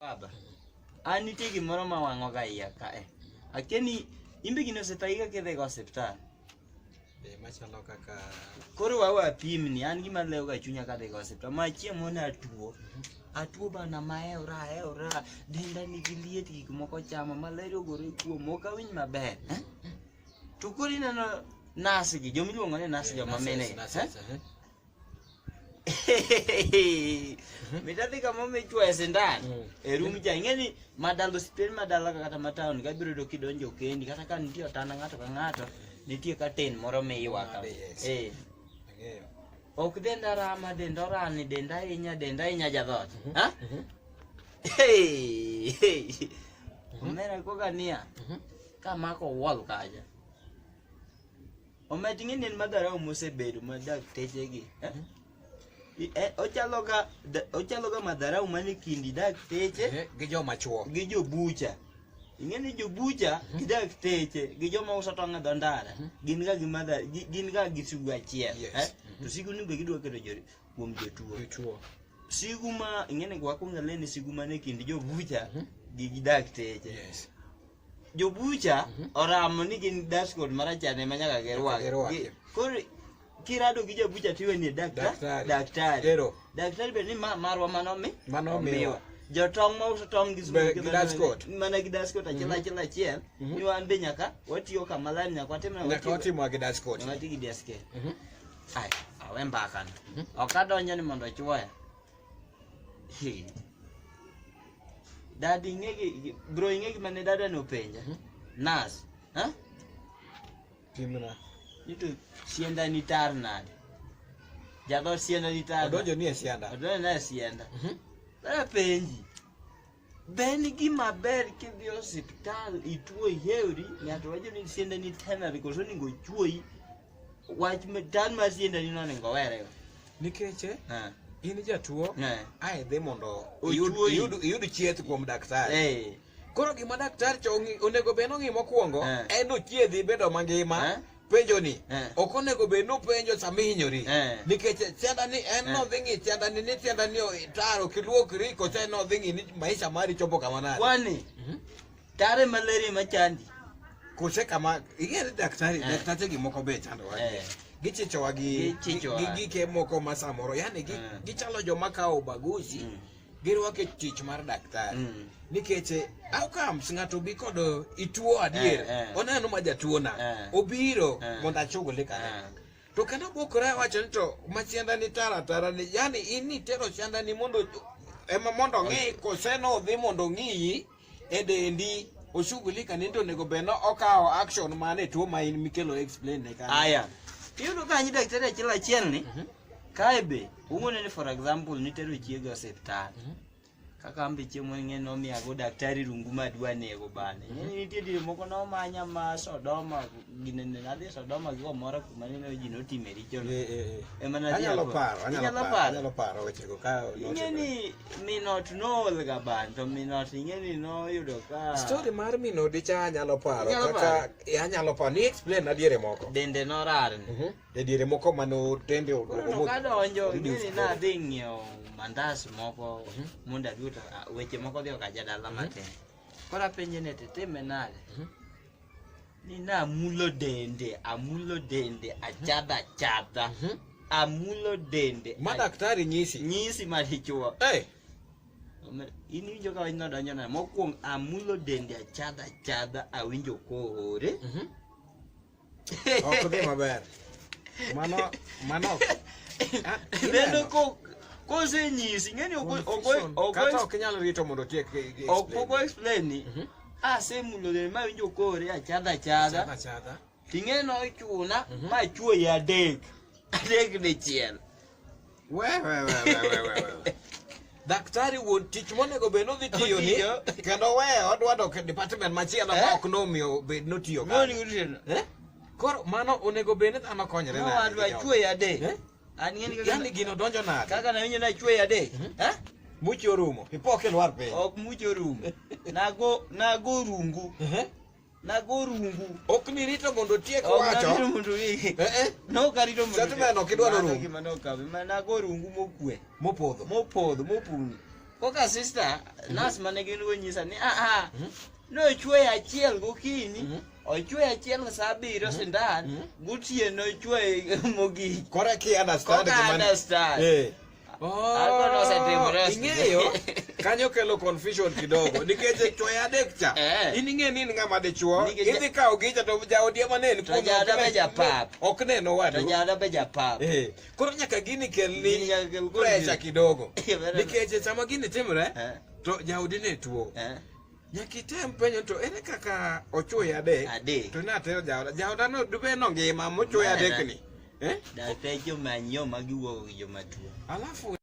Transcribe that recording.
Baba, an nitie gimoro ma wang'oga iya kae. Akia ni imbe gini osetagiga kidhiga osiptal. Be machalo kaka Koro wawe apimni, an gima lewoga e chunya kadhiga osiptal. Ma chieng' moro ne atuo. Atuo bana maewra aewra, denda nigi liet gik moko chama, malaria ogore kuom, ok awinj maber. eh? To koro ineno nas gi, jomiluongo ni nas joma mine. Nurses, gi, nurses, eh? eh? mitadhi kama omichwoye sindan mm. e rum cha ing'e ni madal osiptend madalaka kata mataon kabiro to kidonjo kendi kata ka nitie otanda ng'ato ka ng'ato nitie ka ten moro miywaka eh. ok denda rama denda orani denda ahinya denda ahinya jadhot mhm. ha mhm. omera koka niya mhm. kamako wall kacha Omach ng'eni en madharau mosebedo ma daktechegi. eh? I- eh, Ochaloga da- ochaloga madharau mane kindi dakteche Eh, Gi joma chuo. gi jobucha. Ing'eni jobucha gi dakteche gi joma uso tong' e dho ndara gin ga gi madha- gi- gin ga gi sigu achiel. Yes. eh? To sigu ni be gidwa keto jo- kuom jotuo. Jotuo. sigu ma ing'eni wakwonga leni sigu mane kind jobucha gi gi dakteche Yes. jobucha oramo ni gin dashboard marachar ema nyaka girwak girwaki. Gi- koro kirado gi jabucha tiwe ni dakta- Daktari. daktari Ero. daktari bende ni ma- marwa mano mi Mano omiwa. omiwa. jotong' ma uso tong' gi Be- smoke gi bende dashboard. mana gi dashboard achiel achiel achiel ni wan be nyaka watiyo kama lani nyaka watim na nyaka watiyo- watimwa gi dashboard nyaka wati gi dashboard Mhm. Ai, awe mbakano ok adonjo ni mondo ochuoya Hey. Dadi ing'e gi- bro ing'e gima ne dada nopenja. Mhm. Nas. Ha? Pimna. Nito sienda ni tar nade? Jadho sienda ni tar. Odonjo ni e sianda. Odonjo na sienda. Mhm. Dada penji. Be en gima ber kidhi e osiptal ituo ihewri, ng'ato wacho ni siendani tenore koso onego ochuoyi, wach ma- tan mar siendani no onego owere. nikech eh, Ha, in jatuo ha. ae dhi mondo iyud, Ochuoyi. iyud, iyud chieth kuom daktari Eh, koro gima daktari cho- ong'i- onego bed nong'i mokwongo Eh. en ochiedhi bedo mangima Eh. penjo ni eh. ok onego bed ni upenjo sama ihinyori eh. nikech tienda ni en eh. nodhi ng'i tienda ni ni tienda ni taro kiluokri kose nodhi ng'i ni maisha mari chopo kama nade kwani mhm. tare malaria machandi kose kama ing'ere daktari daktari gi moko be chando wake gichichowa gi gike moko ma samoro yani gichalo joma kawo ubaguzi mm. girwako e tich mar daktari Mm. nikech eh, how comes ng'ato obi kod eh, ituo adier Eh, eh. oneno ma jatuona Eh. obiro Eh. mondo achuguli kare Eh. to kendo bokore wacho ni to machienda ni tara tara ni yani in nitero chienda ni mondo ema mondo ong'i koseno odhi mondo ong'iyi e dendi oshughulika ni to onego bed ni okawo action mane tuo ma in mikelo explain ne kanyo. Aya. Iyudo ka nyi daktari achiel achiel ni Mhm. kae be ung'one ni for example nitero chiega osiptal. Mhm. Kaka ambe chiemo ng'e nomiyago daktari rungu madwa nego bane. Ng'eni nitie dire moko nomanya ma Sodoma ginene nadhi Sodoma gi omora kuma nene ji notime richo. Eh, eh, eh. Ema nadhi Anyalo ako. paro, anyalo Inyalo paro, paro. anyalo paro wechego ka Ing'eni Minot nool ga ban to Minot ing'eni noyudo ka story mar minodi cha anyalo paro Inyalo kaka paro? e, anyalo paro ni explain na diere moko dende norarni. Mhm. e diere moko mano dende o- Koro omo- kadonjo omo- ing'eni nadhi ng'iewo mandas moko Mhm. mondo adhi to ah, weche moko dhi okaja dala matin. Koro apenje ni titime nade? Mhm. nínú àmúlòdèǹdè àmúlòdèǹdè àjádàjádà Mhm. àmúlòdèǹdè Madaktari nyisi. nyisi malichwo Hey. in iwinjo ka wanyno donjo na mokwongo amulo dende achadha achadha awinjo kohore Mhm. Ok dhi maber. Mano mano. Ah, lendo ineno. ko- kosenyisi ng'eni Confusion. Kata ok inyal rito mondo otiek. ok pok o-explain ni Mhm. ase emulogere mawinjo kore achadha achadha Chadha chadha. ting'eno ochuna Mhm. machuoyi adek adek dichiel We we we we we we. we. Daktari wuod tich monego bed nodhi tiyo ni Otiyo. kendo we odwa dok e department machielo Eh? ma ok nomiyo bed notiyo moni kanyo. utena Eh? Koro mano onego bed ni dhano konyre nade gi owadwa jogo? chuoyi adek Eh? An ng'eni kaka yani gino donjo na. Kaka na winyo na chwe ya de. Mhm. Eh? Mucho rumo. Ipoke lwar pe. Ok mucho rumo. Nago nago rungu. Eh? Nago rungu. Ok ni rito mondo tiek wacho. Ok ni rito mondo ni. Eh eh. No ka rito mondo. Satu meno kidwa no rumo. Mano ka ma nago rungu mokwe. Mopodho. Mopodho mopuni. Koka sister, mm -hmm. nas mane gin go nyisa ni a ah, a. Ah, mm -hmm. No chwe achiel gokinyi. Mm -hmm. ochwe achiel sa abiriyo mhm. sindan mhm. gotieno ochwe mogik koro ki understand gima understand eh. Oh, ing'eyo kanyo kelo confusion kidogo nikech e chwoyo adek cha eh. in ing'e ni in ng'ama dichwo idhi kawo gicha to jaodi ema ne ok neno wadupap eh. koro nyaka gini kelni presha kidogo nikech e sama gini timre to jaodi ne tuo Nyaka item penjo to ere kaka ochuoya adek? Adek. To natero jaoda. Jaoda no dube no ngima mochuoya adek ni. Eh? Dapejo manyo magiwuogo gi joma tuo. Alafu